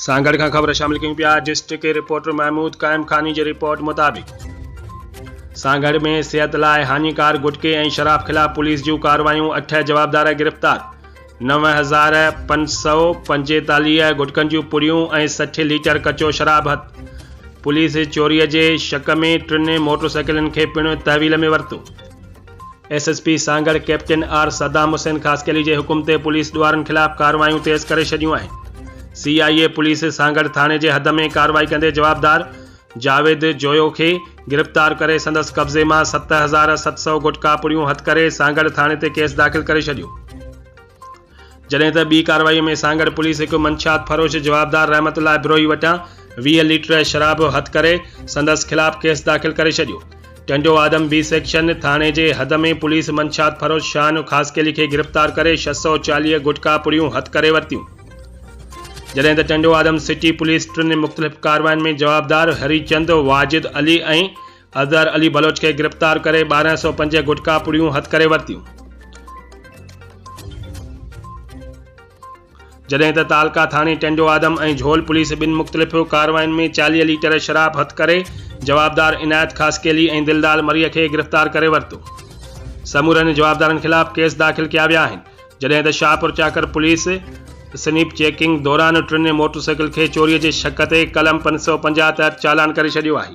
سان گڏ کان خبر شامل ڪيون پيا ڊسٽرڪٽ رپورٽر محمود قائم خاني جي رپورٽ مطابق سان گڏ ۾ صحت لاء هاڃيڪار گٽڪي ۽ شراب خلاف پوليس جون ڪارروايون اٺ جوابدار گرفتار نو هزار پنج سؤ پنجيتاليهه گٽڪن جون پڙيون ۽ سٺ ليٽر ڪچو شراب هٿ پوليس چوري جي شڪ ۾ ٽن موٽرسائيڪلن کي پڻ تحويل ۾ ورتو S S P Sanghar captain R Saddam Hussain Khaskheli جي حڪم تي پوليس ڏوهارن خلاف ڪارروايون تيز ڪري ڇڏيون آهن سي آء اي پوليس سانگهڙ ٿاڻي جي حد ۾ ڪارروائي ڪندي جوابدار جاويد جويو کي گرفتار ڪري سندس قبضي مان ست هزار ست سؤ گٽڪا پڙيون هٿ ڪري سانگهڙ ٿاڻي تي ڪيس داخل ڪري ڇڏيو. جڏهن ته ٻي ڪارروائي ۾ سانگهڙ پوليس هڪ منشيات فروش جوابدار رحمت الله ابروهي وٽان ويهه ليٽر شراب هٿ ڪري سندس خلاف ڪيس داخل ڪري ڇڏيو. ٽنڊو آدم بي سيڪشن ٿاڻي جي حد ۾ پوليس منشيات فروش شاهانو خاصخيلي کي گرفتار ڪري ڇهه سؤ چاليهه گٽڪا پڙيون هٿ ڪري ورتيون. جڏهن ته ٽنڊو آدم سٽي پوليس ٽن مختلف ڪاررواين ۾ جوابدار هريچند، واجد علي ۽ اظهر علي بلوچ کي گرفتار ڪري ٻارهن سؤ پنج گٽڪا پڙيون هٿ ڪري ورتيون. جڏهن ته تعلقه ٿاڻي ٽنڊو آدم ۽ جهول پوليس ٻن مختلف ڪارواين ۾ چاليهه ليٽر شراب هٿ ڪري جوابدار عنايت خاصخيلي ۽ دلدال مريء کي گرفتار ڪري ورتو. سمورن جوابدارن خلاف ڪيس داخل ڪيا ويا آهن. جڏهن ته Shahpur Chakar police snap checking دوران ٽن موٽرسائيڪل کي چوري جي شڪ تي قلم پنج سؤ پنجاهه تحت چالان ڪري ڇڏيو آهي.